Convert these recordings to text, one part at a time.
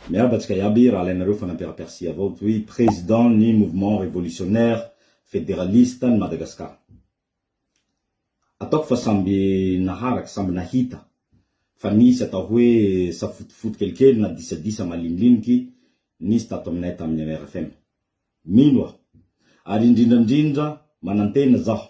Mihabatsika iaby raha alainareo fanampiaram-persia avao toy président ny mouvement révolutionnaire fédéraliste an'i Madagascar. Ataoko fa samby naharaka, samby nahita fa nisy atao hoe safotofoto kelikely na disadisa maliniliniky nisy tato aminay tamin'ny rfm. Mino aho ary indrindrandrindra manantena zaho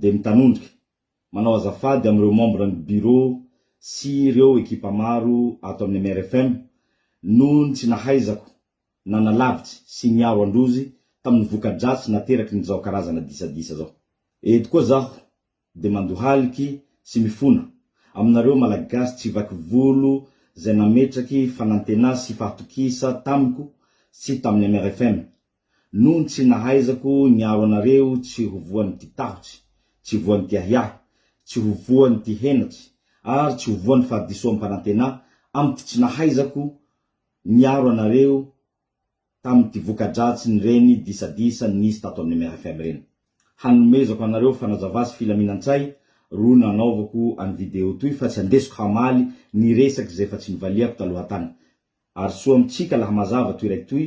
dia mitanondrika manao azafady amin'ireo membre ny bureau sy ireo ekipa maro ato amin'ny mrfm noho ny tsy nahaizako nanalavitsy sy niaro an-drozy tamin'ny voka-dratsy nateraky ny zao karazana disadisa zao. Eto koa zaho dia mandohaliky sy mifona aminareo Malagasy tsy vaky volo zay nametraky fanantenà sy fahatokisa tamiko sy tamin'ny mrfm Nony tsy nahaizako niaro anareo tsy ho voan'ity tahotsy, tsy voan'ity ahiahy, tsy ho voan'ity henatry, ary tsy ho voan'ny fahadisoam-panantenà, amin'ity tsy nahaizako niaro anareo tamin'ity voka-dratsin'ireny disadisa nisy tato amin'ny MRFM ireny. Hanomezako anareo fanazavà sy filaminan-tsay ro nanaovako an'i video toy fa tsy andesiko hamaly ny resaka izay efa tsy nivaliako taloha tany. Ary soa amintsika laha mazava toy raikitoy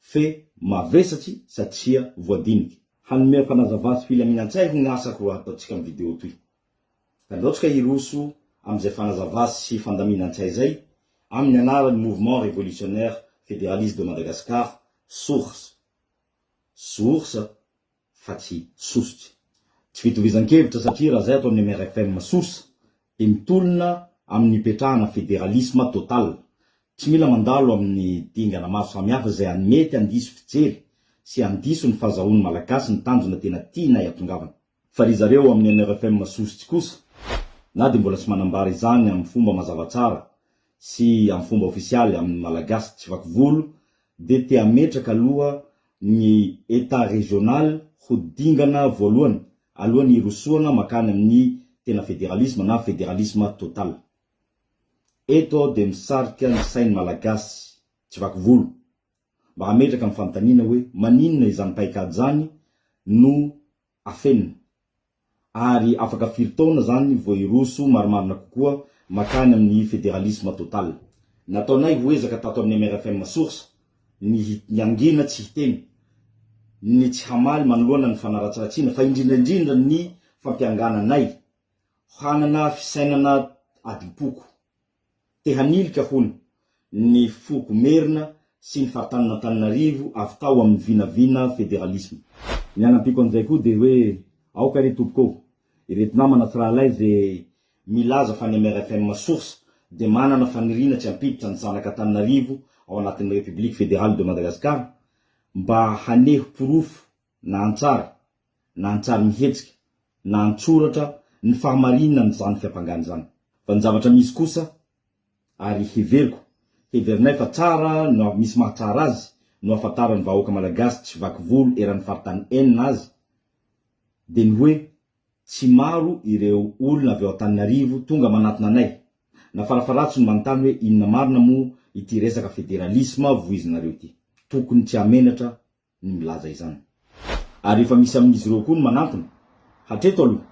fe mavesatry satria voadinika. Hanome fanazavà sy filaminan-tsay hoy ny asako raha ataontsika ny video toy. Ka nirotsaka i Roso amin'izay fanazavà sy fandaminan-tsay izay amin'ny anaran'ny Mouvement Révolutionnaire Fédéraliste de Madagascar, SORS. Source. fa tsy sosotra. Tsy fitovizan-kevitra satria raha izay ataon'ny MRFM sosa dia mitolona amin'ny hipetrahana federalisma total. Tsy mila mandalo amin'ny dingana maro samihafa izay any mety handiso fijery sy handiso ny fahazahoan'ny Malagasy ny tanjona tena tianay atongavana. Fa ry zareo amin'ny MRFM sosotsy kosa na dia mbola tsy manambara izany amin'ny fomba mazava tsara sy amin'ny fomba ofisialy amin'ny Malagasy tsy vaky volo dia te hametraka aloha ny Etat régional ho dingana voalohany alohan'ny hirosoana makany amin'ny tena federalisma na federalisma total. Eto aho dia misarika ny sain'ny Malagasy tsy vaky volo mba hametraka ny fanontaniana hoe maninona izany paik'ady izany no afenina, ary afaka firy taona izany vao hiroso marimarina kokoa makany amin'ny federalisme total? Nataonay ho ezaka tato amin'ny MRFM Source ny hiangina tsy hiteny, ny tsy hamaly manoloana ny fanaratsiratsiana, fa indrindra indrindra ny fampiangananay hanana fisainana adim-poko. Te hanilika, hono, ny foko Merina sy ny faritanin'Antananarivo avy tao amin'ny vinavina federalisma. Ny anampiako an'izay koa dia hoe aoka re tompoko ô, ireto namana sy rahalahy izay milaza fa ny MRFM source dia manana faniriana tsy hampiditra ny zanak'Antananarivo ao anatin'ny République Fédérale de Madagascar mba haneho porofo na an-tsary, na an-tsary mihetsika, na an-tsoratra ny fahamarininan'izany fiampangana izany, fa ny zavatra misy kosa, ary heveriko, heverinay fa tsara no avy misy mahatsara azy, no ahafantaran'ny vahoaka malagasy tsy vaky volo eran'ny faritany enina azy, dia ny hoe, tsy maro ireo olona avy ao Antananarivo tonga manatona anay, na farafaharatsiny manontany hoe inona marina moa ity resaka federalisma voizinareo ity. Tokony tsy hahamenatra ny milaza izany. Ary efa misy amin'izy ireo koa ny manantona. Hatreto aloha,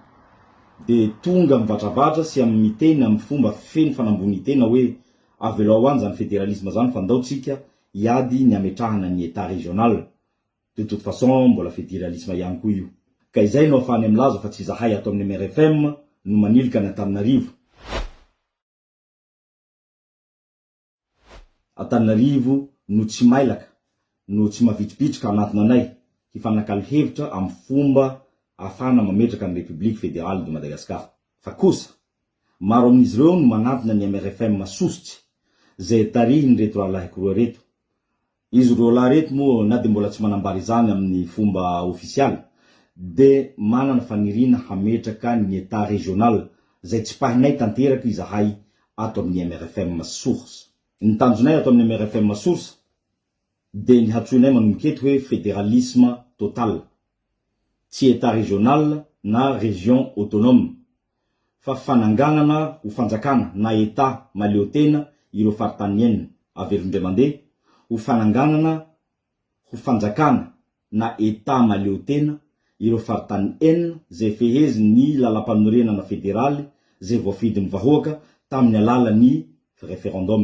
dia tonga mivatravatra sy amin'ny miteny amin'ny fomba feno fanambonin-tena hoe avelao any izany federalisme izany fa ndao tsika hiady ny hametrahana ny Etat régional, de toute façon mbola federalisme ihany koa io. Ka izay no afahany milaza fa tsy izahay ato amin'ny MRFM no manilika an'Antananarivo. Antananarivo no tsy mailaka no tsy mavitribitrika hanantona anay hifanakalo hevitra amin'ny fomba ahafahana mametraka ny Repoblika Federaly de Madagascar. Fa kosa, maro amin'izy ireo no manantona ny MRFM sosotsy izay tarihin'ireto rahalahiko roa ireto Izy roalahy ireto moa na dia mbola tsy manambara izany amin'ny fomba ofisialy dia manana faniriana hametraka ny Etat régional izay tsipahinay tanteraka izahay ato amin'ny mrfm source. Ny tanjonay ato amin'ny mrfm source dia ny hatsoinay manomboka eto hoe federalisme total. Tsy Etat régional na région autonome fa fananganana ho fanjakana na Etat mahaleotena ireo faritany enina, averiny indray mandeha, ho fananganana ho fanjakana na Etat mahaleotena ireo faritany enina izay fehezin' ny Lalampanorenana federaly izay voafidin' ny vahoaka tamin' ny alalan' ny referendum.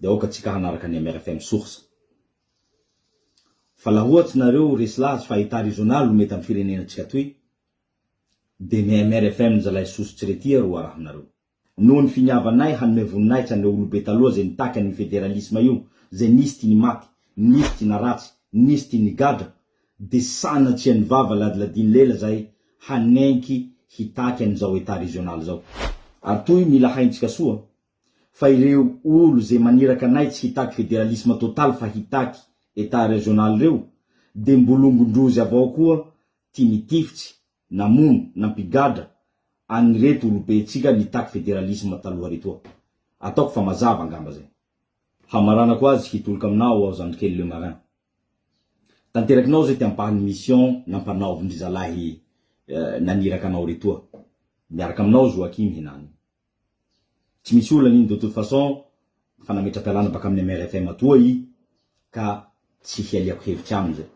de aoka atsika hanaraka ny MRFM source fa laha ohatsy nareo resy lazy fa etat régional no mety am firenena tsika toy de ny MRFM ny zalahy soso tsy rety aro arahinareo. Noho ny finiavanay hanome voninahitsa an'ireo olobe taloha izay nitaky an'io federalisma io, izay nisy tia ny maty, nisy tia naratsy, nisy tia nigadra, de sanatria ny vava ladiladin'ny lela izahay hanenky hitaky an'izao etat régional izao. Ary toy mila haintsika soa fa ireo olo ze maniraka anay tsy hitaky federalisme total fa hitaky etat regional reo de mbolongondrozy avao koa ty nitifitsy, namono, nampigadra agny reto olobe tsika nitaky federalisme taloha retoa. Ataoko fa mazava angamba zay. Hamaranako azy hitoloko aminao aho zandrikely le marin. Tanterakinao zay ty ampahany mission nampanaovindry zalahy naniraka anao retoa. Miaraka aminao Joachim henany. Tsy misy olana iny de toute façon efa nametra-pialana baka amin'ny MRFM atoa i ka tsy hialiako hevitra aminy zay.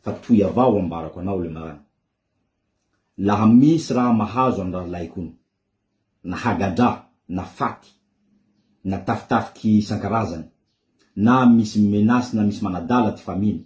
Fa toy avao ho ambarako anao le marany. Laha misy raha mahazo an'i Ralainkony, na hagadra, na faty, na tafitafiky isan-karazany, na misy mi-menace na misy manadala ty famille-ny,